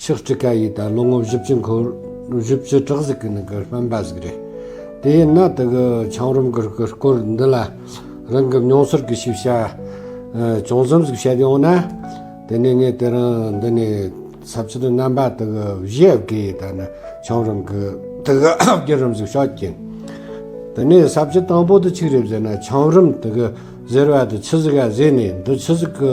ཕྱག་གྲི་ཀ་ཡིས་ད་ལོ་ངོ་བཞི་བཅུ་འཁོར། བཞི་བཅུ་ཕྲག་གཟིགས་ཀྱི་ནི་གི་སྨན་པ་ཟིག་རེད། དེ་ཡིན་ན་དེ་གི་འཆང་རོམ་གི་གི་སྐོར་འདི་ལ་རང་གི་མྱོང་ཚོར་གྱི་ཤེས་བྱ་ཅུང་ཙམ་ཟིག་བཤད་ཡོང་ན། དེ་ནས་ངས་དེ་རིང་འདི་ནས་ཚབ་ཕྱིར་རྣམ་པ་དེ་གི་བཞི་ཡབ་ཀྱི་ཡིས་ད་ནི་འཆང་རོམ་གི་དེ་གི་བརྒྱུད་རིམ་ཟིག་ཤོག་ཅིང། དེ་ནས་ཚབ་ཕྱི་དང་པོ་དེ་ཆིག་རེད་ཟེར་ན་འཆང་རོམ་དེ་གི་ཟེར་བ་དེ་ཆི་ཟིག་ག་ཟེར་ནས་འདི་ཆི་ཟིག་གི།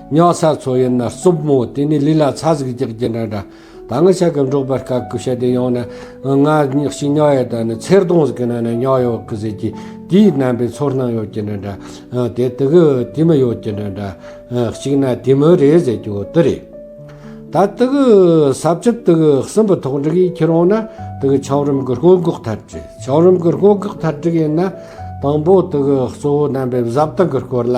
ཉག་ཚ་ཚོ་ཡིན་ན་རྩུབ་མོ་དེ་ནས་ལུས་ལ་ཚ་ཟིག་རྒྱག་རྒྱུ་འདྲ་འདྲ། ད་སྔ་ཆ་གི་འབྲོག་པ་སྐབས་སྐུ་ཞབས་དེ་ཡོང་ན། ང་ཞིག་ཉག་ཡོད་ད་ནི་ཚེར་སྡོང་ཟིག་གི་ནང་ནས་ཉག་ཡོད་གི་ཟེར་གྱི། དེའི་རྣམ་པའི་ཚོར་སྣང་ཡོད་ཀྱི་འདྲ་འདྲ། དེ་དེ་གི་དེ་མི་ཡོད་ཀྱི་འདྲ་འདྲ། གཅིག་ན་དེ་མི་རེད་ཟེར་རྒྱུ་དེ་རེད། ད་དེ་གི་ཟབ་ཆོས་དེ་གི་སྲིན་པོ་ཐོག་འགྲིག་ཡིན་ཁྱེར་འོང་ན་དེ་གི་ཆའོ་རིམ་གི་སྔོན་འགོག་ཐལ་འགྲིག་ཆའོ་རིམ་གི་སྔོན་འགོག་ཐལ་འགྲིག་ཡིན་ན། དང་པོ་དེ་གི་གཙོ་བོ་རྣམ་པའི་གཟབ་སྟངས་གི་སྐོར་ལ།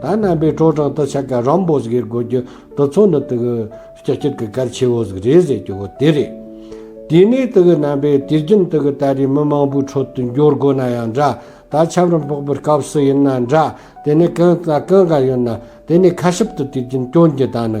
ད་རྣམ་པའི་ཁྲོ་གྲང་དུ་ཆ་ག་རམ་པོ་ཟིག་གིར་གོ་གྱུ་དུ་མཚོ་ནི་དུ་གི་ལྕགས་ཀྱུ་གི་གར་ཆེ་བོ་ཟིག་རེད་ཟེར་གྱུ་བོ་དེ་རེད། དེ་ནས་དུ་གི་རྣམ་པའི་དུས་རྒྱུན་དུ་གི་ད་རེས་མི་མང་པོའི་ཁྲོད་དུ་འབྱོར་དགོས་ན་ཡང་འདྲ་ད་ཆབ་རོམ་ཕོག་པའི་སྐབས་སུ་ཡིན་ན་འདྲ་དེ་ནས་གང་ད་གང་ག་ཡོད་ན་དེ་ནས་ཁ་ཤིབ་དུ་དུས་རྒྱུན་སྐྱོན་གྱི་ད་ནི་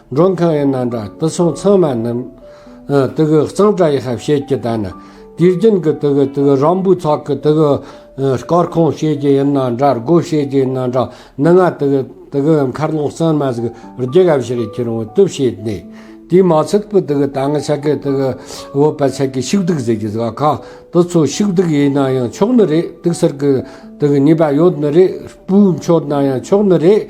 མགྲོན་ཁང་ཡི་ནང་དྲ་དུ་སོང་ཚང་མ་རྣམས། དུ་གི་གཙང་དྲ་ཡི་ཧབ་བྱེད་ཀྱི་ལྟ་ན། དུས་རྒྱུན་གི་དུ་གི་དུ་གི་རང་འབུའི་ཚོགས་ཀྱི་དུ་གི། སྐར་ཁུང་བྱེད་ཀྱི་ཡི་ནང་དྲ་སྒོ་བྱེད་ཀྱི་ཡི་ནང་དྲ་ནུ་ལྔ་དུ་གི་དུ་གི་མཁར་ལོང་གསར་མ་ཟིག་རྒྱུ་ཧབ་བྱེད་རི་ཁྱི་རོང་བོ་དུ་བྱེད་ནས། དུས་མ་ཚུགས་པའི་དུ་གི་ད་ང་ཆ་གི་དུ་གི་བོད་པ་ཆ་གི་ཕྱུགས་བདུག་ཟེར་གྱི་ཟ་ཁ་དུ་ཚོ་ཕྱུགས་བདུག་ཡི་ནང་ཡང་ཆོག་ནི་རེད་དུག་གསར་གི་དུ་གི་ཉེས་པ་ཡོད་ནི་རེད་སྤུའི་མཆོད་ནང་ཡང་ཆོག་ནི་རེད་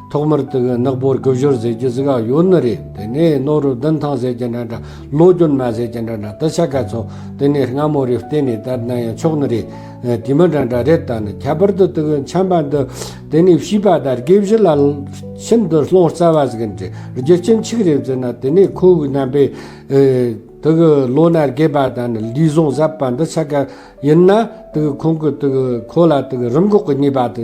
ཐོག་མར་དེ་གའི་ནག་པོར་སྒུབ་ཞོར་ཟེར་རྒྱུ་ཟིག་ཨ་ཡོད་ནི་རེད་དེ་ནས་ནོར་རུ་བདུན་ཐང་ཟེར་གྱི་འདྲ་འདྲ་ལོ་རྒྱུན་མ་ཟེར་གྱི་འདྲ་འདྲ་དེ་ཆ་ག་ཚོད་དེ་ནས་སྔ་མོ་རེ་བལྟས་ནས་དར་ན་ཡང་ཆོག་ནི་རེད་དེ་མི་འདྲ་འདྲ་རེད་ད་ནི་ཁྱད་པར་དུ་དེ་གའི་འཆམ་པ་འདི་དེ་ནས་བྱིས་པ་དར་དགེ་བཞི་ལ་ཁྱིམ་དུ་སློང་རྩ་བ་ཟིག་འདྲི་རྒྱུ་ཁྱིམ་ཆིག་རེ་བཙལ་ན་དེ་ནས་ཁོ་བོའི་རྣམ་པས་དེ་གའི་ལོ་ན་རྒས་པ་དང་ནི་ལུས་ཟུངས་ཟབ་པ་འདི་ཆ་ག་ཡིན་ན་དེ་གའི་ཁོང་གི་དེ་གའི་ཁོ་ལ་དེ་གའི་རིམས་འགོག་གི་ནུས་པ་དེ་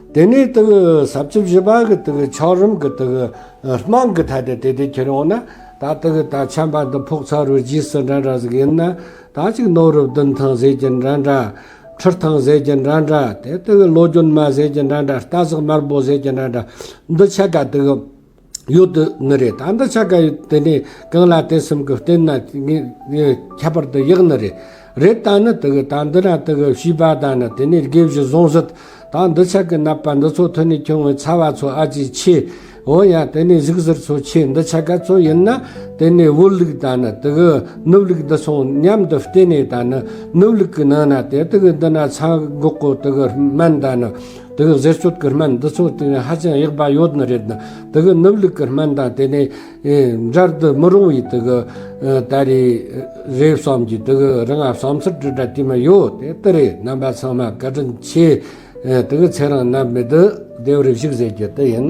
དེ་ནས་དུག་ཟབ་བཅུ་བཞི་པ་གི་དུག་འཁྱགས་རུམ་གྱི་དུག་སྨག་གི་ཐད་དེ་དེ་དུས་ཁྱེར་ཡོང་ན་ད་དུག་ད་ཆམ་པ་འདི་ཕོག་ཚ་རུ་རྗེས་སུ་འདྲ་འདྲ་ཟིག་ཡིན་ན་ད་ཅིག་ནོར་རུ་བདུན་ཐང་ཟས་ཀྱི་འདྲ་འདྲ། ཁྲུར་ཐང་ཟས་ཀྱི་འདྲ་འདྲ་དེ་དུག་ལོ་རྒྱུན་མ་ཟས་ཀྱི་འདྲ་འདྲ་རྟ་ཟེགས་དམར་པོ་ཟས་ཀྱི་འདྲ་འདྲ་འདི་ཆད་ཀ་དུག། ཡོད་དུ་ནི་རེད་ད་འདི་ཆ་ག་ཡོད་དེ་ནས་གང་ལ་དེ་སེམས་ཀྱི་རྟེན་ན་ཁྱད་པར་དུ་ཡག་ནི་རེད་རེད་ད་ནི་དེ་གི་ད་འདི་ན་དེ་གི་བྱིས་པ་ད་ནི་དེ་ནས་དགེ་བཞི་བཟུང་སྲིད་ད་འདི་ཆ་གི་ནད་པ་འདི་ཚོ་ཐོན་ནས་ཁྱོད་ངའི་ཚ་བ་ཚོ་ཨ་ཅེ་ཆེ་འོ་ཡ་དེ་ནས་གཟུགས་གཟེར་ཚོ་ཆེ་འདི་ཆ་ག་ཚོ་ཡིན་ན་དེ་ནས་བུ་ལུག་ད་ནི་དེ་གི་ནུབ་ལུག་འདི་སོང་སྙམ་དུ་བལྟས་ནས་ད་ནི་ནུབ་ལུག་གི་ནང་ན་དེ་དེ་གི་འདི་ན་ཚ་འགོག་གོ་དེ་གི་སྨན་ད་ནི། དེ་གི་ཟས་སྤྱོད་ཀྱི་སྨན་འདི་ཚོ་དེ་ནས་ཧ་ཅང་ཡག་པ་ཡོད་ནི་རེད། དེ་གི་ནུབ་ལུགས་ཀྱི་སྨན་དང་དེ་ནས་སྦྱར་དུ་མི་རུང་བའི་དེ་གི་ད་རེས་རེད་བསམ་གྱི་དེ་གི་རང་བསམ་ཚུལ་དྲི་བྲ་དེ་མི་ཡོད་དེ་དེ་རེད་རྣམ་པ་ཚང་མ་བཀའ་དྲིན་ཆེ། དེ་གི་ཚེ་རང་རྣམ་པའི་དེ་ལྡེའུ་རིགས་ཞིག་ཟེར་རྒྱུ་དེ་ཡིན།